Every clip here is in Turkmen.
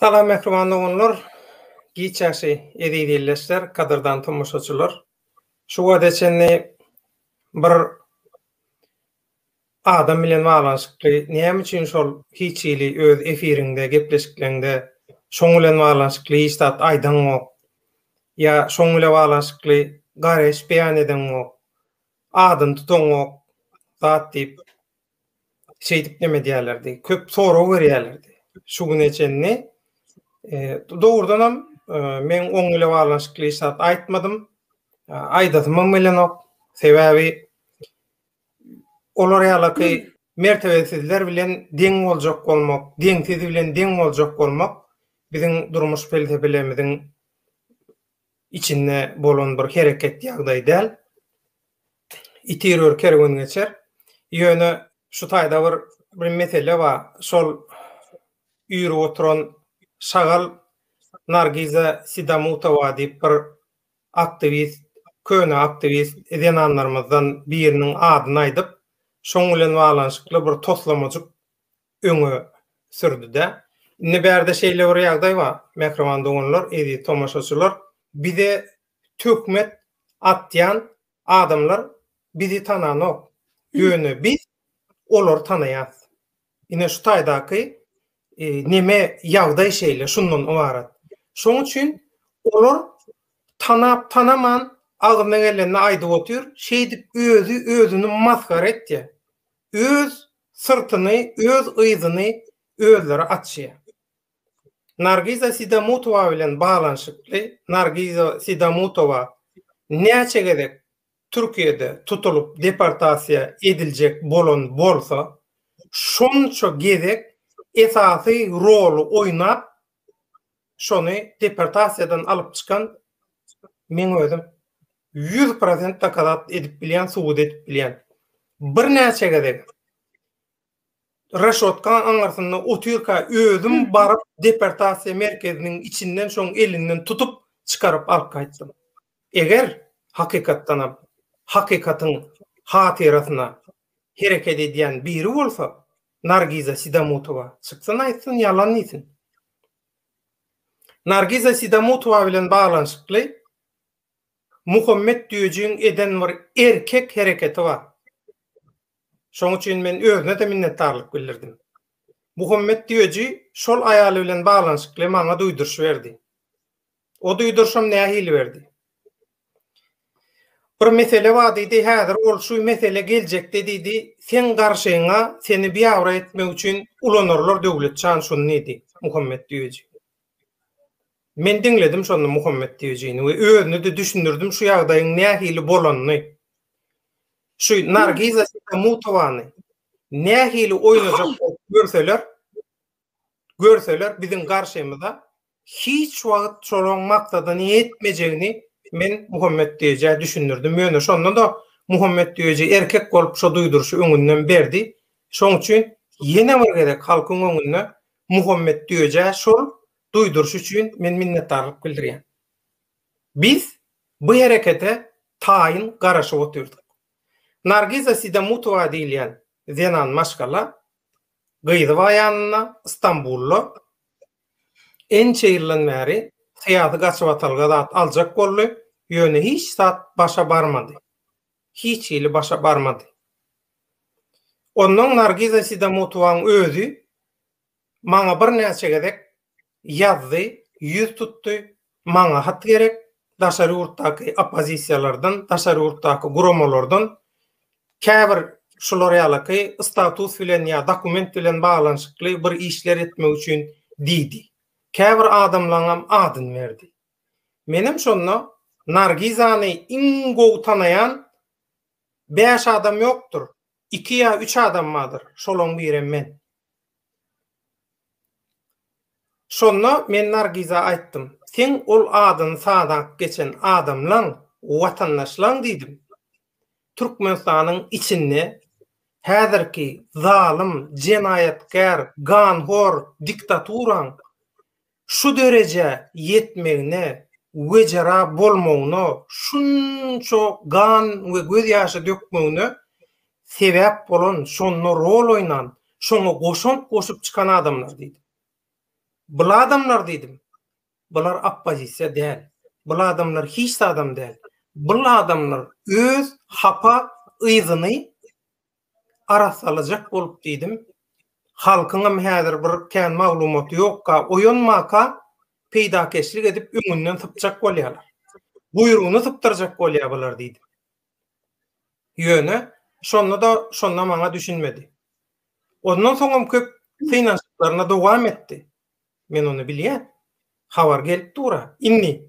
Salam mähriban doganlar, giç ýaşy eziz ildeşler, gadyrdan tomaşaçylar. Şu wagta çenli bir Adam bilen baglanyşykly näme üçin şol hiç hili öz efiriňde gepleşikleňde şoň bilen baglanyşykly hiç zat aýdaňok ýa şoň bile baglanyşykly garaýyş beýan edeňok adyny tutaňok zat diýip şeýdip neme edýärlerdi köp sorag berýärlerdi şu güne çenli dogrudanam men oň bile baglanyşykly hiç zat aýtmadym aýdasymam gelenok sebäbi olar ýalaky mertebesizler bilen deň boljak bolmak, deňsiz bilen deň boljak bolmak biziň durmuş pelsepelerimiziň içinde bolan bir hereket ýagdaý däl. Iti ýör, kerwen geçer. Ýöne şu taýda bir bir mesele bar. Şol ýüri oturan şagal Nargiza Sidamutowa diýip bir aktiwist, köne aktiwist zenanlarymyzdan biriniň adyny aýdyp, şoň bilen baglanyşykly bir toslamajyk öňe sürdi-de, Indi bärde şeýle bir ýagdaý bar, mähriban doganlar, eziz tomaşaçylar, bize töhmet atýan adamlar bizi tananok, ýöne biz olary tanaýarys. Ine şu taýdaky neme ýagdaý şeýle, şundan ybarat. Şoň üçin olar tanap tanaman agzyna gelenini aýdyp otyr, şeýdip özi özüni masgara etýär. Öz syrtyny, öz yzyny özleri açýar. Nargiza Sidamutowa bilen baglanyşykly, Nargiza Sidamutowa näçe gezek Türkiýede tutulyp deportasiýa ediljek bolan bolsa, şonça gezek esasy roly oýnap, şony deportasiýadan alyp çykan men özüm. Ýüz prosent dokazat edip bilýän, subut edip bilýän. Birnäçe gezek reşotkaň aňyrsynda otyrka özüm baryp deportasiýa merkeziniň içinden şoň elinden tutup çykaryp alyp gaýtdym. Eger, hakykatdanam, hakykatyň hatyrasyna hereket edýän biri bolsa, Nargiza Sidamutowa çyksyn aýtsyn ýalan diýsin. Nargiza Sidamutowa bilen baglanyşykly Muhammet Düýejigiň eden bir erkek hereketi bar. Şoň üçin men özüne-de minnetdarlyk bildirdim. Muhammet Düýeji şol aýaly bilen baglanyşykly maňa duýduryş berdi. O duýduryşam nähili berdi? Bir mesele bar diýdi, häzir ol şu mesele geljekde diýdi, seň garşyňa seni biabraý etmek üçin ulanarlar Döwletjan şuny diýdi, Muhammet Düýeji. Men diňledim şonda Muhammet Tejini we özüne-de düşündirdim şu ýagdaýyň nähili bolanyny. Şu Nargiza Sitamutowany nähili oýnajak bolup görseler, görseler biziň garşymyza hiç wagt şolaň maksadyny ýetmejegini men Muhammet Tejä düşündirdim. Ýöne şonda-da Muhammet Teji erkek bolup şo duýduryşy öňünden berdi. Şoň üçin ýene bir gezek halkyň öňünde Muhammet Döjä şol duýduryş üçin men minnetdarlyk bildirýän. Biz bu herekete taýyn garaşyp otyrdyk. Nargiza Sidamutowa diýilýän zenan maşgala gyzy bar ýanynda Stambulda ençe ýyldan bäri syýasy gaçybatalga zat aljak boldy, ýöne hiç zat başa barmady. hiç hili başa barmady. Onnoň Nargiza Sidamotowaň özi maňa birnäçe gezek ýazdy, ýüz tutdy, maňa hat gerek, daşary ýurtdaky oppozisiýalardan, daşary ýurtdaky guramalardan käbir şular ýalaky status bilen ýa dokument bilen baglanyşykly bir işler etmek üçin diýdi. Käbir adamlaňam adyny berdi. Menem şonda Nargizany iň gowy tanaýan bäş adam ýokdur. Iki ýa üç adam bardyr. Şolaň birem men. Şonda men Nargiza aýtdym. Seň ol adyny sadak geçen adamlaň, watandaşlaň diýdim. Türkmenistanyň içinde häzirki zalym, jenaýatkär, ganhor diktaturaň şu derejä ýetmegine wejera bolmagyna, şunça gan we göz ýaşy dökmegine sebäp bolan, şonda rol oýnan, şoňa goşant goşup çykan adamlar diýdim. Bul adamlar diýdim, bular oppozisiýa däl, bul adamlar hiç zadam däl, bul adamlar öz hapa yzyny arassalajak bolup diýdim. Halkyňam häzir bir kän maglumaty ýokka, oýanmaka peýdakeşlik edip öňünden sypjak bolýarlar. Guýrugyny sypdyrjak bolýar bular diýdim. Ýöne şonda-da şonda maňa düşünmedi. Ondan soňam köp synanyşyklaryna dowam etdi. Men ony bilýän. Habar gelip dur-a. Indi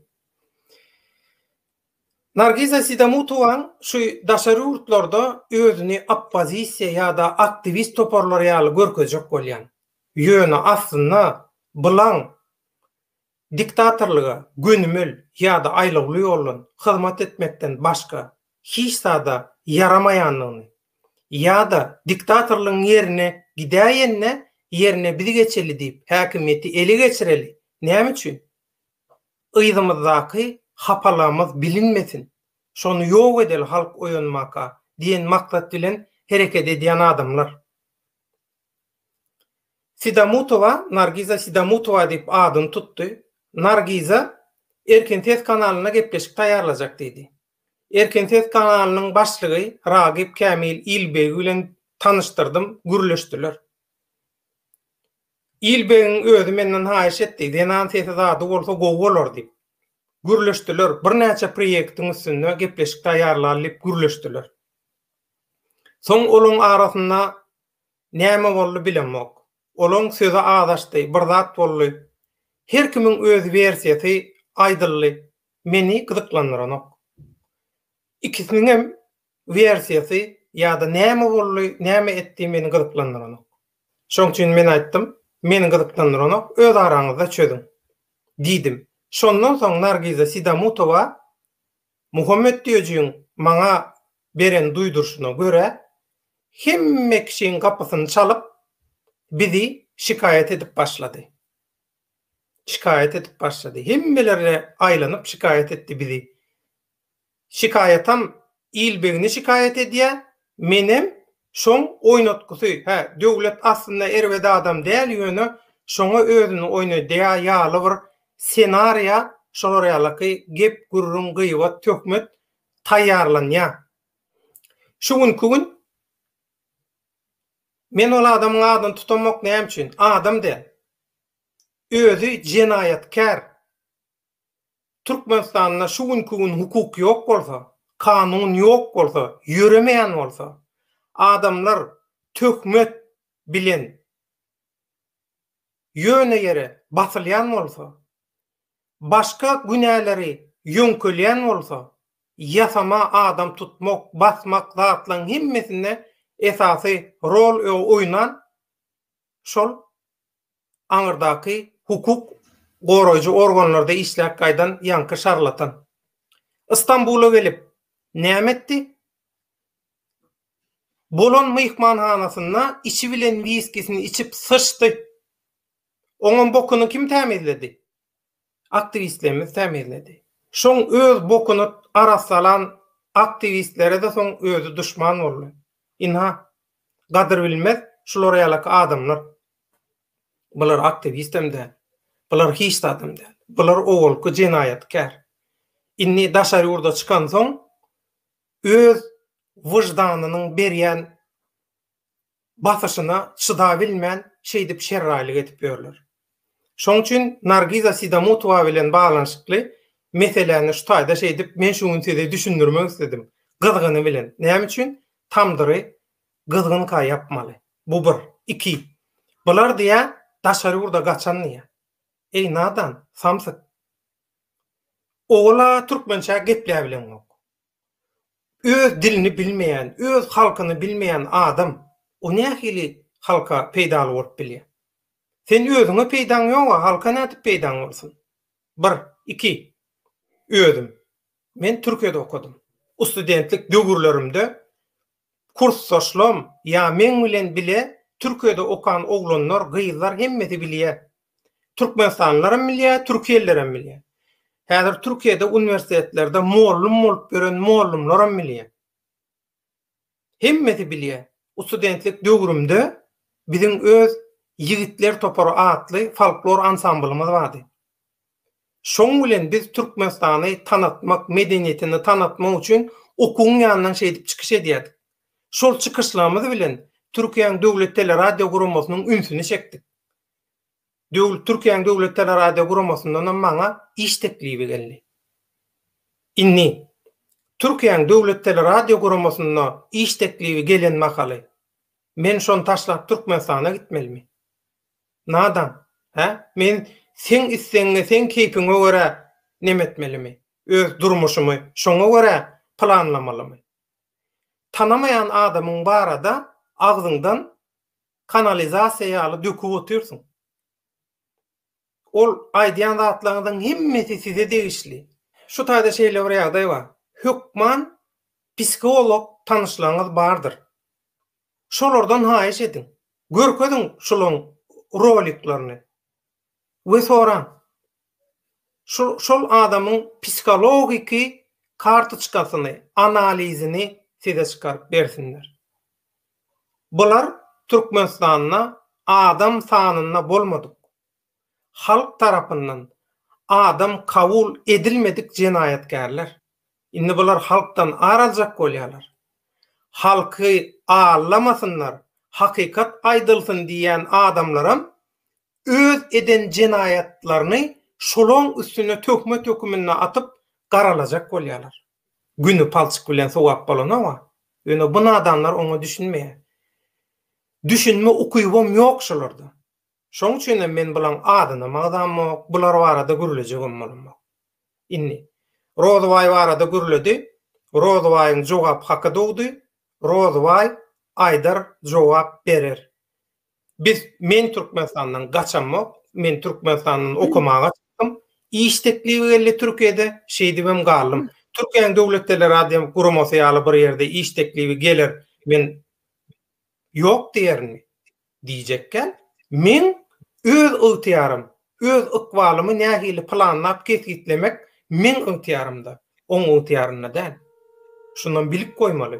Nargiza Sidamutowaň şu daşary ýurtlarda özüni oppozisiýa ýa-da aktiwist toparlary ýaly görkezjek bolýan, ýöne aslynda Blan diktatorlyga gönümel ýa-da aýlawly ýoldan hyzmat etmekden başga hiç zada ýaramaýandygyny ýa-da diktatorlygyň ýerine gidäýende ýerine biz geçeli diýip häkimiýeti ele geçireli näme üçin Yzymyzdaky hapalygymyz bilinmesin, şony ýok edeli halk oýanmaka diýen maksat bilen hereket edýän adamlar. Sidamutowa Nargiza Sidamutowa diýip adyny tutdy. Nargiza Erkin ses kanalynda gepleşik taýýarlajak diýdi. Erkin ses kanalynyň başlygy Ragip Kämil Ilbegi bilen tanyşdyrdym, gürleşdiler. Il begiň özi menden haýyş etdi, zenan sesi zady bolsa gowy bolar diýip. Gürleşdiler, birnäçe proýektiň üstünde gepleşik taýýarlaly diýip gürleşdiler. Soň olaň arasynda näme boldy bilemok. Olaň sözi azaşdy, bir zat boldy. Her kimiň öz wersiýasy aýdyldy, meni gyzyklandyranok. Ikisiniňem wersiýasy ýa-da näme boldy, näme etdi meni gyzyklandyranok. Şoň üçin men aýtdym, meni gyzyklandyranok, öz araňyzda çözüň. Diýdim. Şondan soň Nargiza Sidamutowa Muhammet Düýejigiň maňa beren duýduryşyna görä, hemme kişiň gapysyny çalyp, bizi şikaýat edip başlady. Şikaýat edip başlady. Hemmelere aýlanyp şikaýat etdi bizi. Şikaýatam il begini şikaýat edýä, menem şoň oýnatgysy, hä, Döwlet aslynda erbet adam däl, ýöne şoňa özüni oýnadýa ýaly bir senariýa şolar ýalaky gep, gürrüň, gyýbat, töhmet taýýarlanýa. Şu günki gün men ol adamyň adyny tutamok, näme üçin? Adam däl. Özi jenaýatkär. Türkmenistanda şu günki gün hukuk ýok bolsa, kanun ýok bolsa, ýöremeýän bolsa, adamlar töhmet bilen ýöne ýere basylýan bolsa, başga günäleri ýöňkelýän bolsa, ýasama adam tutmak, basmak zatlaryň hemmesinde esasy rol oýnan şol aňyrdaky hukuk goraýjy organlarda işläp gaýdan ýaňky şarlatan. Istambula gelip, näme etdi? Bolan myhmanhanasynda içi bilen wiskisini içip syçdy. Oňam bokuny kim tämizledi? aktiwistlerimiz tämizledi. Şoň öz bokuna arassalan aktiwistlere-de soň özi duşman boldy. Ynha, gadyr bilmez şular ýalaky adamlar. Bular aktiwistem däl. Bular hiç zadam däl. Bular owalky jenaýatkär. Indi daşary ýurda çykansoň, öz wyždanynyň berýän basyşyna çydabilmän şeýdip şerraýlyk edip ýörler. Şoň üçin Nargiza Sidamutowa bilen baglanyşykly meseläni şu taýda şeýdip men şu gün size düşündirmek isledim. Gyzgyny bilen. Näme üçin tamdyry gyzgynka ýapmaly? Bu bir. Iki. Bular diýýär, daşary ýurda gaçan diýýär. Eý nadan, samsyk. Owala türkmençä gepläbileňok. öz dilini bilmeýän, öz halkyny bilmeýän adam o nähili halka peýdaly bolup bilýär? Sen özüňe peýdaň ýok-a, halka nädip peýdaň bolsun? Bir, iki, özüm, men Türkiýede okadym. Ustudentlik döwürlerimde Kursdaşlam ýa meň bilen bile Türkiýede okan oglanlar, gyzlar hemmesi bilýär. Türkmenistanlylaram bilýär, türkiýelilerem bilýär. Häzir Türkiýede uniwersitetlerde mollum bolup ýören mollumlaram bilýär. Hemmesi bilýär. Usudentlik döwrümde biziň öz Ýigitler topary atly folklor ansamblymyz bardy. Şoň bilen biz Türkmenistany tanatmak, medeniýetini tanatmak üçin okuwyň ýanyndan şeýdip çykyş edýärdik. Şol çykyşlarymyz bilen Türkiýäň Döwlet teleradiogurammasynyň ünsüni çekdik. Türkiýäň Döwlet teleradiogurammasyndanam maňa iş teklibi geldi. Indi Türkiýäň Döwlet teleradiogurammasynda iş teklibi gelen mahaly, men şony taşlap Türkmenistana gitmelimi? Nadan, hä? Men seň islegiňe, seň keýpiňe görä neme etmelimi? Öz durmuşymy şoňa görä planlamalymy? Tanamaýan adamyň barada agzyňdan kanalizasiýa ýaly döküp otyrsyň. Ol aýdýan zatlaryňyzyň hemmesi size degişli. Şu taýda şeýle bir ýagdaý bar. Hökman psiholog tanyşlaryňyz bardyr. şolardan haýyş ediň, görkeziň şulaň roliklerini we soraň, şu şol adamyň psihologiki kartoçkasyny, analizini size çykaryp bersinler. Bular Türkmenistanda adam sanynda bolmadyk, halk tarapyndan adam kabul edilmedik jenaýatkärler. Indi bular halkdan ar aljak bolýarlar. Halky allamasynlar, hakykat aýdylsyn diýýän adamlaram öz eden jenaýatlaryny şolaň üstüne töhmet höküminde atyp garalajak bolýarlar. Güni palçyk bilen sogap bolanok-a. Ýöne bu nadanlar oňa düşünmeýär. Düşünme ukybam ýok şolarda. Şoň üçinem men bulaň adynam agzamok, bular barada gürlejegem bolamok. Indi, Rozybaý barada gürledi, Rozybaýyň jogap haky dogdy, Rozybaý aýdar, jogap berer. Biz, men Türkmenistandan gaçamok, men Türkmenistandan okamaga çykdym, iş teklibi geldi Türkiýede, şeýdibem galdym. Türkiýäň Döwlet Teleradýo guramasy ýaly bir ýerde iş teklibi geler, men ýok diýerinmi? Diýjekkä, meň öz ygtyýarym, öz ykbalymy nähili planlap kesgitlemek meň ygtyýarymda, oň ygtyýarynda däl. Şunam bilip goýmaly.